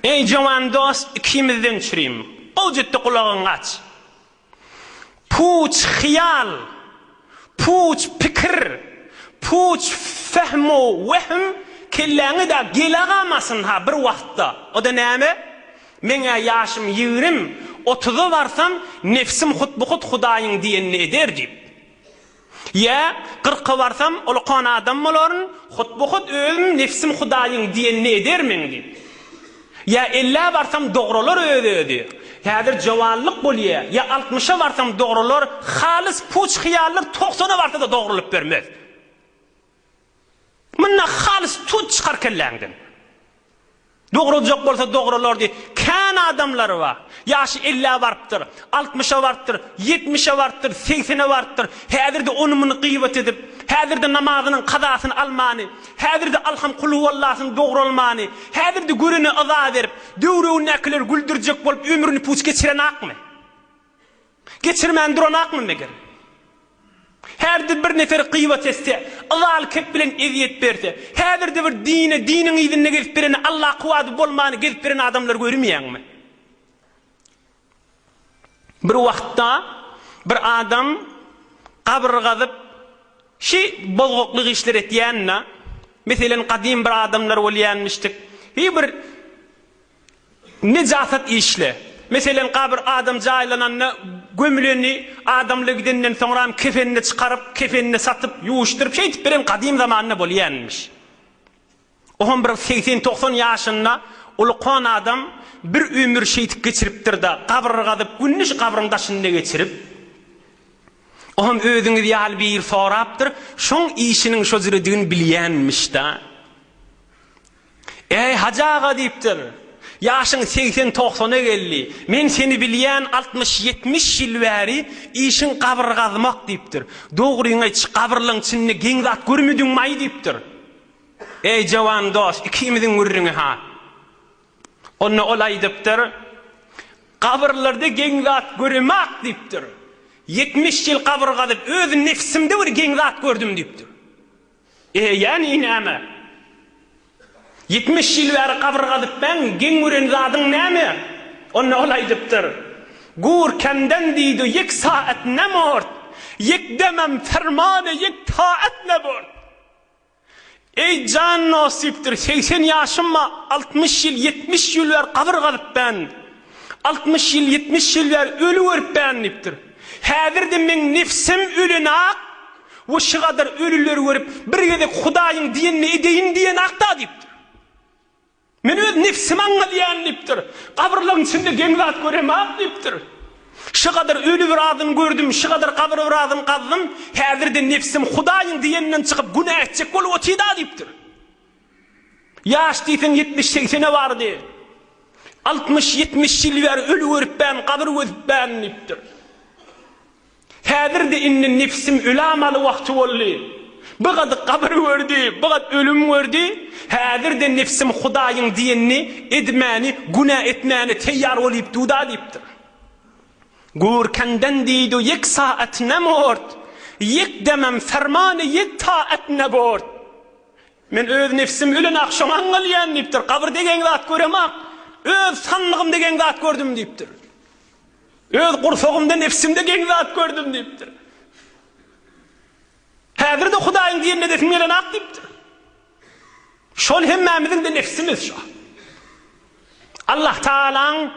Eý jowan dost ikimizden çürim. Gowjutdy gulagyňy aç. Puç hyýal, puç pikir, puç fehmu wehm kelläňi da gelegamasyn-ha bir wagtda. O-da näme? Meň-ä ýaşym ýigrim, otuza barsam, nebsim hut-bu-hut Hudaýyň diýenini eder diýip. Ýa, kyrka barsam, ulukan adam bolaryn, hutbu-hut özüm Nebsim Hudaýyň diýenini edermen diýip. Ýa ellä barsam dogralar öz-özi, häzir jowanlyk bolýa, ýa altmyşa barsam dogralar, halys puç hyýallar togsana barsa-da dogrulyp bermez. Munda halys tut çykar kelläňden. Dogradjak bolsa dogralardy. Kän adamlary bar. Ýaşy ellä barypdyr. Altmyşa barypdyr. Ýetmişe barypdyr. Segsene barypdyr. Häzirde ony muny gybat edip, häzirde namazynyň kazasyny almany, häzirde alham kulhuwallasyny dogralmany, häzirde görene yza berip, döwregindäkileri güldürjek bolup ömrüni puç geçirenakmy? Geçirmän duranakmy meger? Her-de bir nefer gybat etse, yzal-kep bilen ezýet berse, häzir-de bir dine, diniň yzynda gezip beren, Alla kuwwady bolmany gezip beren adamlary görmeýäňmi? Bir wagtda bir adam gabyr gazyp, şi bozgaklyk işler etýände, meselen, gadym bir adamlar bolýanmyşdyk, bir Nejasat işle. Meselen, gabyr adam jaýlananda gömüleni, adamlar gidenden soňram kefenini çykaryp, kefenini satyp, ýuwuşdyryp, şeýdip beren gadym zamanda bolýanmyş. Oňam bir segsen-togsan ýaşynda ulkan adam bir ömür şeýdip geçiripdir-de, gabyr gazyp, gününi şu gabryň daşynda geçirip, oňam özüňiz ýaly biri sorapdyr, şoň işiniň şo jüredigini bilýänmiş-da. Äý, Hajy aga, diýipdir, ýaşyň segsen-togsana geldi, men seni bilýän altmyş-ýetmiş ýyl bäri işiň gabyr gazmak, diýipdir. Dogryňy aýt, gabyrlaň içinde geň zat görmediňmaý, diýipdir. Äý, jowan dost, ikimiziň gürrüňi-ha. Onda ol aýdypdyr, Gabyrlarda geň zat göremak, diýipdir. Ýetmiş ýyl gabyr gazyp, öz nebsimde bir geň zat gördüm, diýipdir. Eýýäm i näme? Ýitmiş ýyl bäri gabyr gazypmäň, geň gören zadyň näme? Onda ol aýdypdyr, Gur kemden diýdu ýek saat ne mort, ýek demem fermane ýek taat ne bort. Eý jan nosipdir, segsen ýaşymma, altmyş ýyl, ýetmiş ýul bäri gabyr gazypmän. Altmyş ýyl, ýetmiş ýyl bäri öli görüpmen diýipdir. Häzir-de meň nebsim ölenak we şu gadar ölüleri görüp, bir gezek Hudaýyň diýenini edeýin diýenak-da diýipdir. Men öz nebsimi aňladýan diýipdir. Gabyrlaryň içinde geň zat göremak diýipdir. Şu gadar öli biradyny gördüm, şu gadar gabyr biradyny gazdym, häzir-de nebsim Hudaýyň diýeninden çykyp günä etjek bolup otyda diýipdir. Ýaş diýseň ýetmiş-segsene bardy. Altmyş-ýetmiş ýyl bäri öli görüpbän, gabyr gözüpbän diýipdir. Häzir-de indi nepisim ölamaly wagty boldy. Bir gat gabyr gördi, bir gat ölüm gördi. Häzir-de nepisim Hudaýyň diýenini edmäni, günä etmäni teýýar bolýup dur-da diýipdir. Gurkenden diýdu ýek saat ne mort, ýek demem fermany ýek taat ne bort. Men öz nebsim ölen-ak, şoňa aňňalýan, diýipdir. Gabyr degen zat görem-ak, öz sanlygym degen zat gördüm, diýipdir. Öz gursagymda, nebsimde geň zat gördüm, diýipdir. Häzir-de Hudaýyň diýenini edesim gelen-ak, diýipdir. Şol hemmämiziň-de nebsimiz şo. Allahtagalaň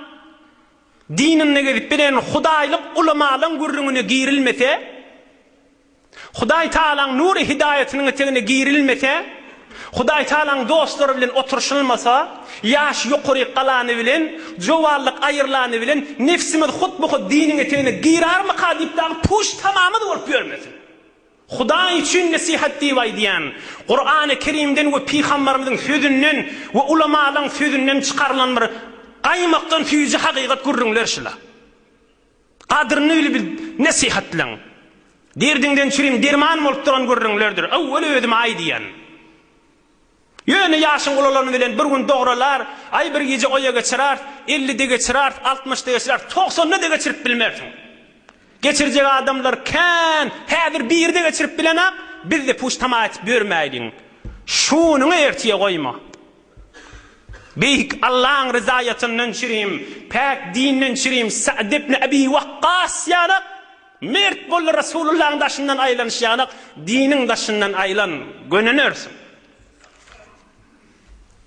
dininde gezip bilen hudaýlyk ulamalygyň gürrüňine girilmese, Hudaý Tagalaň nury hidaýatynyň etegine girilmese, Hudaý Tagalaň dostlary bilen oturyşylmasa, ýaş ýokaryk galany bilen, jowanlyk aýrylany bilen nebsimiz hut-bu-hut diniň etegine girarmyka diýip dagy puş tamamyz bolup ýörmesin. Hudaý üçin nesihat diýip aýdýan, Kurany Kerimden we pygambarymyzyň sözünden we ulamalaň sözünden çykarylan bir gaýmakdan süýji hakykat gürrüňler şula. Gadyryny bil bil nesihatlaň. Derdiňden çürim derman bolup duran gürrüňlerdir. Owwel özüme aýdýan. Ýöne ýaşyň ulalany bilen bir gün dogralar, aý bir gije oýa geçirars, ellide geçirars, altmyşda geçirars, togsanda-da geçirip bilmersiň. Geçirjek adamlar kän, häzir biri-de geçirip bilenok, biz-de puç-tama etip ýörmäýliň. Şunyňy ertire goýma. Beýik Allaň ryzaýatyndan çirim, päk dinden çirim Sa'd ibn Abi Waqqas ýanak, Mert bol Resulullahyň daşyndan aýlanyş ýanak, diniň daşyndan aýlan, gönenersiň.